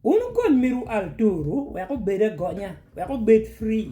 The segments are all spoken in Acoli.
Un wukony myero wu al turu wek obed agonya wek obed free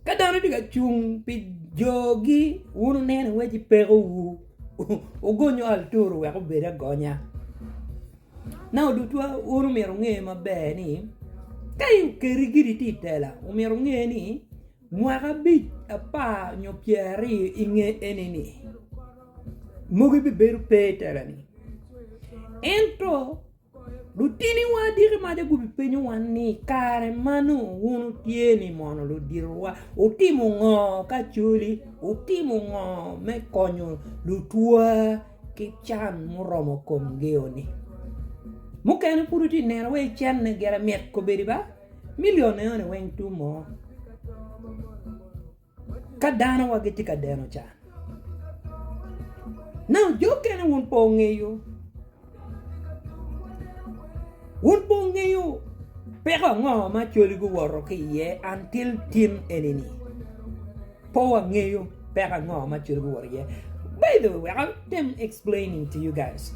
ka dano tye ka cung pi jogi wun wuneno ni waci peko wu wugonyo al turu wek obed agonya nongo odutwa un myero wunge maber ni ka okeri giri tye itela myero wunge ni. Mwaka abic, apar nyo pyer aryo i nge eni-ni, mogo ibibedo pe i tela-ni. Ento, lutiniwa adiki ma adya gubi penyowa ni, I kare ma nongo wun wutye-ni mono luditowa wutimo ngo ka coli? Wutimo ngo me konyo lutwa ki can muromo komgio-ni? Mukene pud wutye ka neno wai cente gire mit kobedi ba? Milion enoni weng tum mo ka dano wa gitye ka deno can now jo okene wun pe wungeyo wun pe wungeyo peko ango ma coli guwoto ki iye until tin enini pe wangeyo peko ango ma coli guwoto ki iye by the way wek atem explaining to you guys.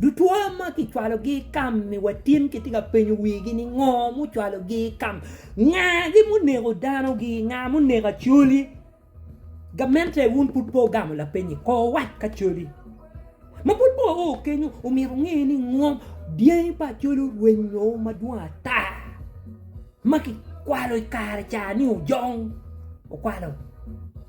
Dutwa ma kicwalogi i kam-mi wa tin kitye ka penyo wigi ni ngo mucwalogi i kam? Ngagi muneko danogi? Nga muneko Acholi? Gamente wun pud pe wugamo lapeny-nyi ko wuwac ki Acholi. Ma pud pe wao kenyo omyero wunge ni ngo dyangi pa Acholi orwenyo madwong ata ma kikwalo i kare ca ni ojong okwalo.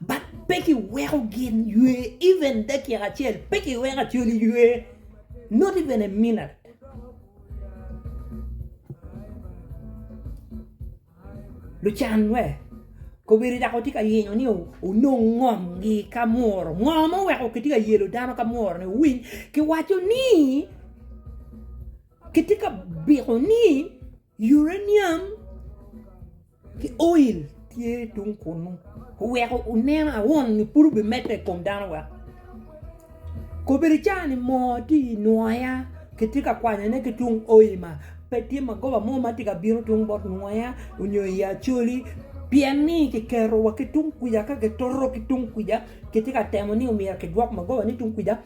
But pe ki weko gin ywe even dakika acel pe ki weko acolli ywe not even a minute. Lucan we kobedi dok wutye ka yenyo ni wunong ngom gi ka muru ngo ma oweko ki tye ka yelo dano ka muru ni wuwiny ki waco ni ki tye ka biko ni Uranium ki oil tye tung kunu oweko onen awon nyo pud obimedde i kom dano wek kobedo cani moo tye i nwoya kitye ka kwanyone ki tung oil ma pe tye magoba mo ma tye ka bino tung bot nwoya nyo i acholi pien ni kiketo wa ki tung kwica ka kitoto ki tung kwica kitye ka temo ni myero kidwok magoba ni tung kwica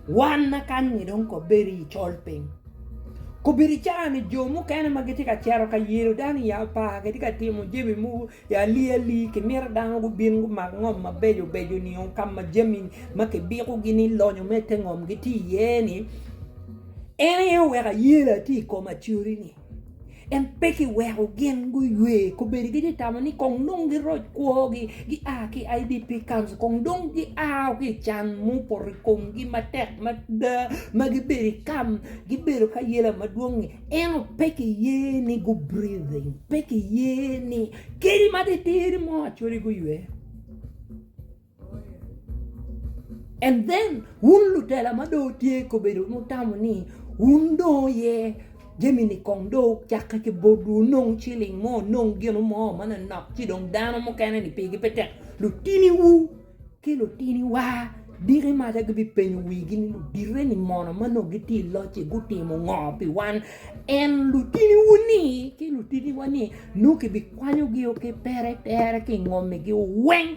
Wan ma kany-ngi dong kobedi i colpiny, kobedi cawa-ni jo mukene ma gitye ka cito ka yelo dano i apar kitye ka timo jami mogo i aliali, kimito dano gubin gumak ngom mabeco beco-ni o ka ma jami ma kibikogi ni lonyo me te ngom gitye iye-ni, en aye oweko ayela tye i kom acori-ni. En pe kiweko gin guywe kobedi gitye tamo ni kong dong giroc kwogi gia ki IDP camps kong dong giao ki i can mupoto i komgi matek mada ma gibedo i kam gibedo ka yela madwongi ento pe kiye ni gu breathing pe kiye ni kadi matitidi mo acoligi oywe. And then wun lutela ma dong wutye ka bedo mutamo ni wun dong aye jami ni kong dong ocakke ki botwu onong ciling mo onong gino mo manonok ci dong dano mukene ni pigi pe tek lutiniwu ki lutiniwa diki maca gibipenyo wigi ni ludite ni mono ma nongo gitye i loc-ci gutimo ngo pi wan and lutiniwu ni ki lutiniwa ni nongo kibikwanyogi ki pere tere kingomigiwu weng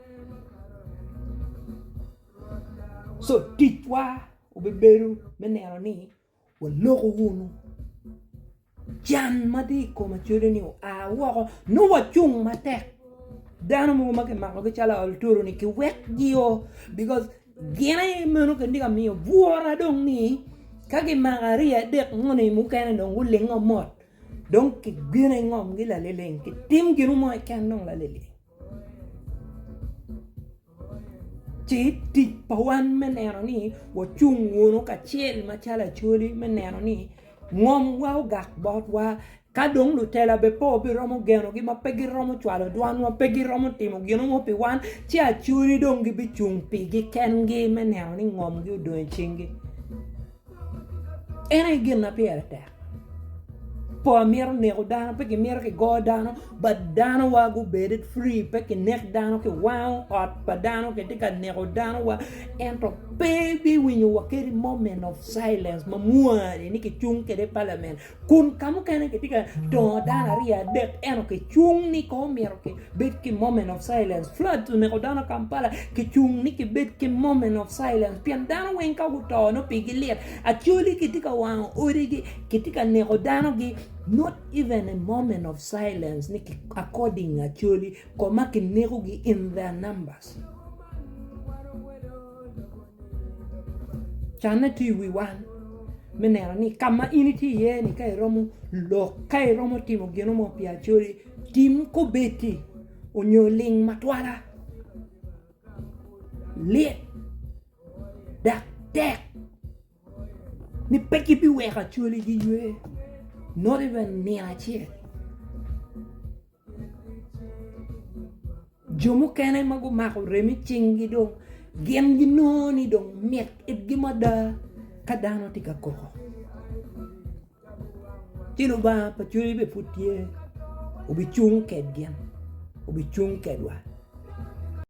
Co ticwa obibedo me neno ni waloko wunu can ma tye i kom acodo ni oa woko nongo wacung matek dano mogo ma kimako gi calo aolotoro ni ki wek gi o bikos gin aye meno gin tye ka miyo bwura dong ni ka kimako aryo adek ngo ni mukene dong gulingo mot dong ki bino i ngom gi lalileng ki tim gin mo keken dong lalileng. Ci tic pa wan me neno ni wacung wunu kacel macalo Acholi me neno ni ngomwa ogak botwa ka dong lutela bene pe wabiromo genogi ma pe giromo cwalo dwanwa pe giromo timo gin mo pi wan ci Acholi dong gibicung pigi kengi me neno ni ngomgi odong i cingi. En aye gin ma pire tek. Pol mito neko dano, pe kimito ki go dano, but dano wa gu bed free pe ki nek dano ki wango ot pa dano ki tye ka neko dano wa ento pe bi winyo wa kadi moment of silence ma mwani ni ki cung kede parliament Kun ka mukene kitye ka dongo dano aryo adek ento kicung ni kong omyero kibed ki moment of silence. Floods oneko dano Kampala kicung ni kibed ki moment of silence pien dano weng ka guto nongo pigi lit. Acholi kitye ka wango odigi, kitye ka neko danogi not even a moment of silence ni according acholi koma kinekogi in their numbers. Canne tye i wi wan me neno ni ka ma in itye iye ni ka iromo lok ka iromo timo gin mo pi Acholi tim kombeddi nyo ling matwala lit dok tek ni pe gibiweko Acholi giywe not even nino acel. Jo mukene ma gumako remo i cingi dong gin ginongo ni dong mit itgi mada ka dano tye ka koko ci Lubanga pa coc bene pud tye obicung kwedgi obicung kwedwa.